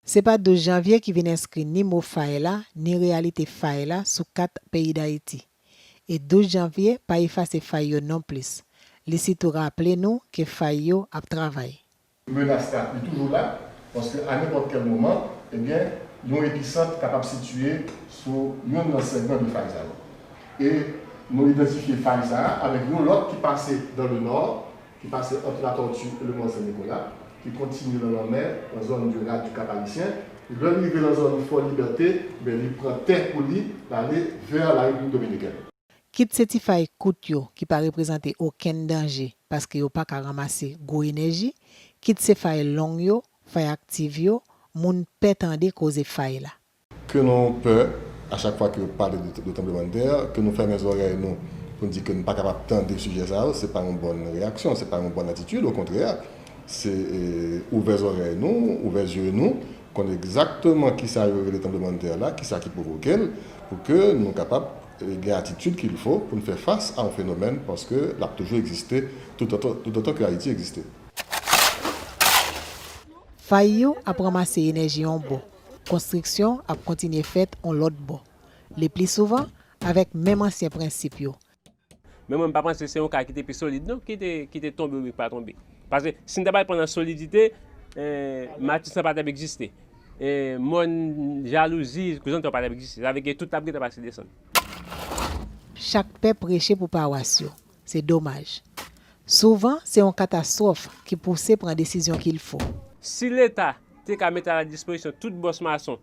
Se pa 12 janvye ki vin enskri ni mo fay la, ni reyalite fay la sou kat peyi Dayiti. E 12 janvye pa efase fay yo non plis. Li sitou raple nou ke fay yo ap travay. Menas la, li toujou la, paske a nenpòt kèl moman, ebyen, yon episant kapab sitiye sou yonn nan segman 2 fay sa yo. E nou idantifye fay sa a avèk yon lòt ki pase dans le nord, ki pase ant La Tortue e le Mont Saint-Nicolas, ki kontinye lan lanmè, lan zòn de Rade du Cap-Haïtien. Lè li rive lan zòn Fort Liberté, ebyen, li pran tè pou li, l'ale vers la République Dominicaine. Kit se ti fay kout yo ki pa reprezante okenn danje paske yo pa ka ranmase gwo enèji, kit se fay long yo, fay aktiv yo, moun pè tande koze fay la. Ke nou pè a chak fwa ke yo pale de tranblemanntè, ke nou fèmen zòrèy nou pou n di ke nou pa kapab tande sijè sa yo, se pa yon bòn reyaksyon, se pa yon bòn atitid, okontrè, se ouvè zòrèy nou, ouvè zye nou, Konn egzakteman kisa yo rele tranblemann'tè la, kisa ki pwovoke'l, pou ke nou kapab gen atitid kil fo pou nou fè fas a yon fenomèn, paske l'ap toujou egziste toutotan ke Ayiti egziste. Fay yo ap ranmase enèji yon bò, konstriksyon ap kontinye fèt yon lòt bò, lepli souvan avèk menm ansyen prensip yo, Men mwen m pa panse se yon ka ki te pi solid non ki te tonbe oubyen ki pa tonbe. Paske si n ta pral pran nan solidite, Mattis lan pa t ap egziste. Mòn jalouzi, Krizantè yo pa t ap egziste. Sa vle ke tout t ap gen tan pase desann. Chak pè preche pou pawas yo. Se domaj. Souvan, se yon katastwòf ki pouse pran desizyon ki l fou. Si Leta te ka mete a la dispozisyon tout bòs mason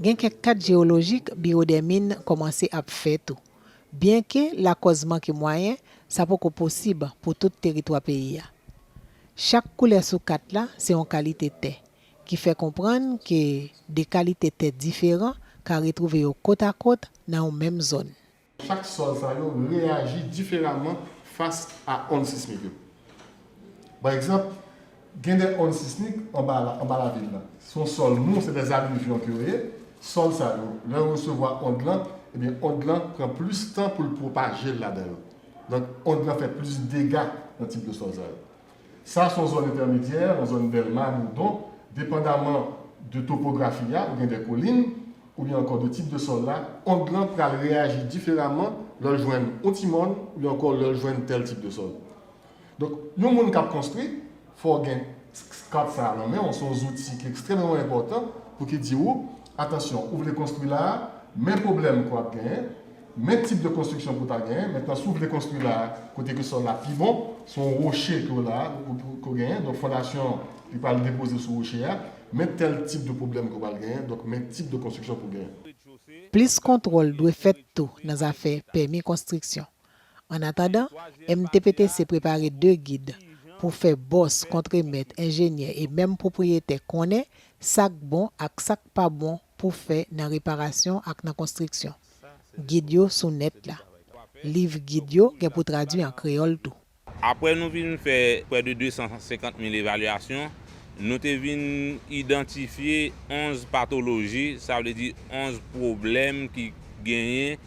Gen kèk kat jewolojik Biwo dè Min kòmanse ap fè tou. Byenke lakòz manke mwayen, sa poko posib pou tout teritwa peyi a. Chak koulè sou kat la se yon kalite tè, ki fè konprann ke de kalite tè diferan ka retwouve yo kotakot nan yon menm zòn. Chak sòl sa yo reyaji diferaman fas a ond sismik yo. Pa egzanp, gen de ond sismik anba lavil la. Se yon sòl mou, se de alivyon ke yo ye. Sòl sa yo, lè yo resevwa ond lan, ebyen ond lan pran plis tan pou l pwopaje l ladan yo. Donk, ond lan fè plis dega nan tip de sòl sa yo. Sa son zòn entèmedyè, yon zòn Dèlma, Bourdon, depandaman de topografi a, ou gen de kolin, oubyen ankò de tip de sòl la, ond lan pral reyaji diferaman lè l jwenn yon ti mòn oubyen ankò lè l jwenn tèl tip de sòl. Donk, yon moun k ap konstwi, fò w gen kat sa a nan men w, se yon zouti ki ekstrèmeman enpòtan pou ki di ou, atansyon, ou vle konstwi la a, men pwoblèm ke w ap genyen, Men tip de konstriksyon pou w ta genyen, mentnan si w vle konstri la kote ke sòl la pi bon, se yon woche ke w la ke w genyen, donk fondasyon an li pral depoze sou woche a, men tèl tip de pwoblèm ke w pral genyen, donk men tip de konstriksyon pou w genyen. Plis kontwòl dwe fèt tou nan zafè pèmi konstriksyon. An atandan, MTPTC prepare de gid pou fè bòs, kontremèt, enjenyè e menm pwopriyetè konnen sa k bon ak sa k pa bon pou fè nan reparasyon ak nan konstriksyon. Gid yo sou nèt la. Liv gid yo gen pou tradui an kreyòl tou. Apre nou fin fè prè de 250 mil evalyasyon, nou te vin idantifye 11 patoloji, sa vle di 11 pwoblèm ki genyen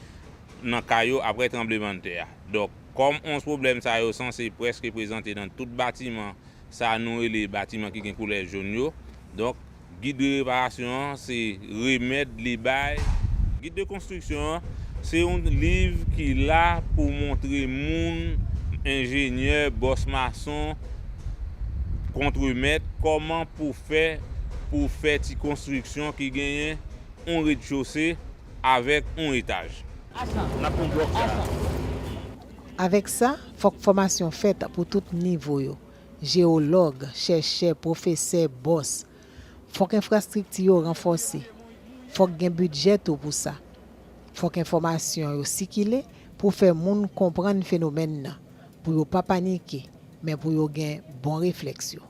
nan kay yo apre tranblemanntè a. Donk, kòm 11 pwoblèm sa yo sanse prèske prezante nan tout batiman sa nou rele batiman ki gen koulè jòn yo, donk, Gid de reparasyon an se remèd li bay. Gid de konstriksyon an se yon liv ki la pou montre moun, enjenyè, bòs mason, kontremèt, kòman pou fè pou fè ti konstriksyon ki genyen yon redchose avèk yon etaj. Avèk sa, fòk fòmasyon fèt pou tout nivo yo. jewològ, chèchè, pwofesè, bòs. Fòk enfrastrikti yo ranfòse. Fòk gen bidjè tou pou sa. Fòk enfòmasyon yo sikile pou fè moun konprann fenomèn nan, pou yo pa panike, men pou yo gen bon reflèks yo.